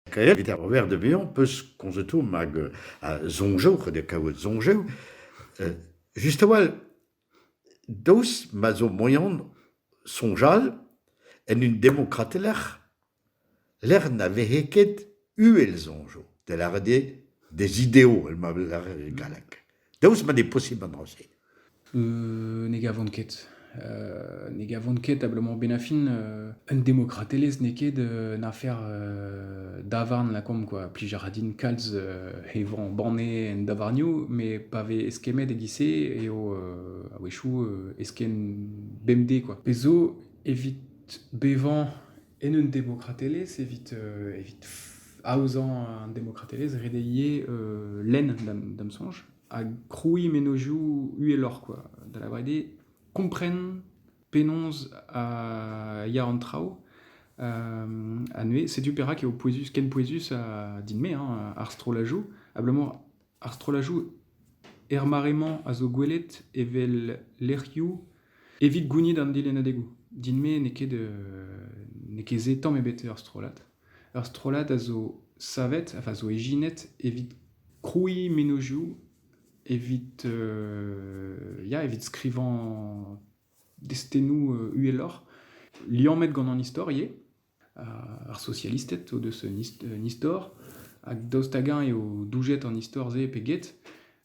Kaer evit ar werz da vezañ 'peus komzet omp hag soñjoù, c'hwec'h kaout soñjoù. Just a-walc'h, daoust ma zo moan soñjal en un demokrate lec'h, lec'h na vehe ket uhel soñjoù, da lâret eo des idéaux, ma lâret e galleg. Daoust ma n'eo posibl an dra-se euh, Ne gavont ket. Euh, ne gavont ket abalamour benafin euh, un demokratelezh n'eo ket un afer davarn lakaomp quoi. Plijar din kalz he vran banne en davarnioù, mais pa vez eskemmet e-giz-se eo a-wechoù eskemm bemdez quoi. Pezo evit bevañ en un demokratelezh evit, euh, evit aozañ un demokratelezh, redeier euh, lenn da'm da'm soñj, ha krouiñ mennozhioù uheloc'h, quoi. Da lavaret eo, kompren penaos euh, ya an traoù. Euh, ha neuze, setu perak eo pouezus, ken pouezus ha din-me, hein, ar strollajoù, abalamour Ar strollajoù er mare-mañ a zo gwelet evel lec'hioù evit gounit an delennadegoù. Din-me n'eo ket n'eo ket se tamm ebet ur strollad. Ur strollad a zo savet, a zo ijinet evit krouiñ mennozhioù, evit ya evit skrivañ destennoù uheloc'h, liammet gant an istor ivez. ar sosialisted o deus un istor hag daoust hag-eñ eo doujet an istor-se pe get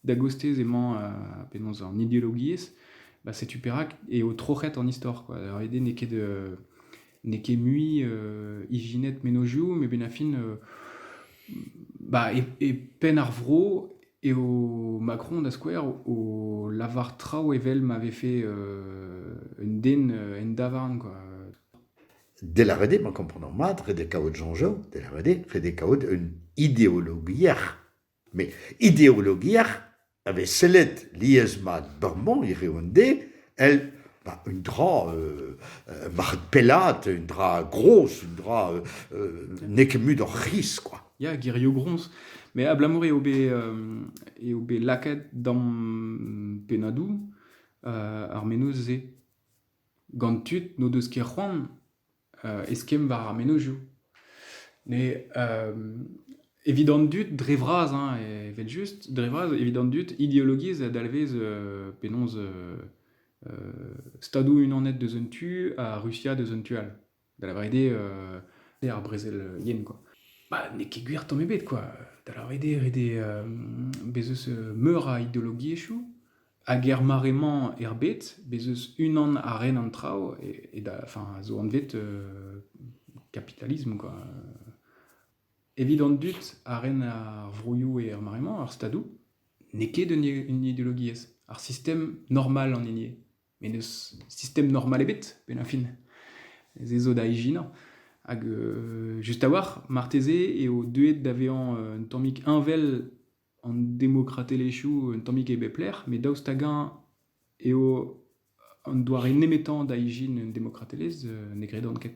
da gostez emañ penaos an ideologiezh bah setu perak eo troc'het an istor kwa ret eo n'eo ket n'eo ket mui ijinet mennozhioù met benn ar fin bah e penn ar vro eo Macron da skouer o lavar traoù evel ma vefe un den en davarn kwa Delaret eo ma komprenan mat redek kaout soñjoù, delaret eo redek kaout un ideologiezh. Met ideologiezh a vez sellet lies-mat bremañ hiriv an deiz èl un dra marc'het pellaat, un dra groz, un dra n'eo ket mut hor c'hiz kwa. Ya, gerioù groñs. Met abalamour eo bet eo bet lakaet da'm pennadoù ar menoz-se. Gant tud n'o deus ket c'hoant eskemm war ar mennozhioù. Ne evit an dud dre vras hein, evel-just, dre vras evit an dud ideologiezh a dalvez penaos Stadoù-Unanet deus un tu ha Rusia deus un tu all. da lavaret eo euh, ar brezel euh, yen, quoi. Bah, n'eo ket gwir tamm ebet, quoi. Da lavaret eo ret eo euh, bez eus euh, meur a ideologiezhioù, hag er mare-mañ erbet, bez eus unan a ren an traoù, et, et da, enfin, a zo anvet euh, kapitalisme, quoi. Evit an dud a ren ar vroioù et ar mare-mañ, ar stadoù, n'eo ket un, un ideologiezh. Ar sistem normal an hini eo. met n'eus sistem normal ebet, pennañ-fin. Se zo da ijinañ. Hag euh, juste a-walc'h, marteze eo deuet da vezañ euh, un tammig heñvel an demokratelezhioù, un tammig e bep lec'h, met daoust hag-eñ eo an doare nemetañ da ijin un demokratelezh, euh, ne gredan ket.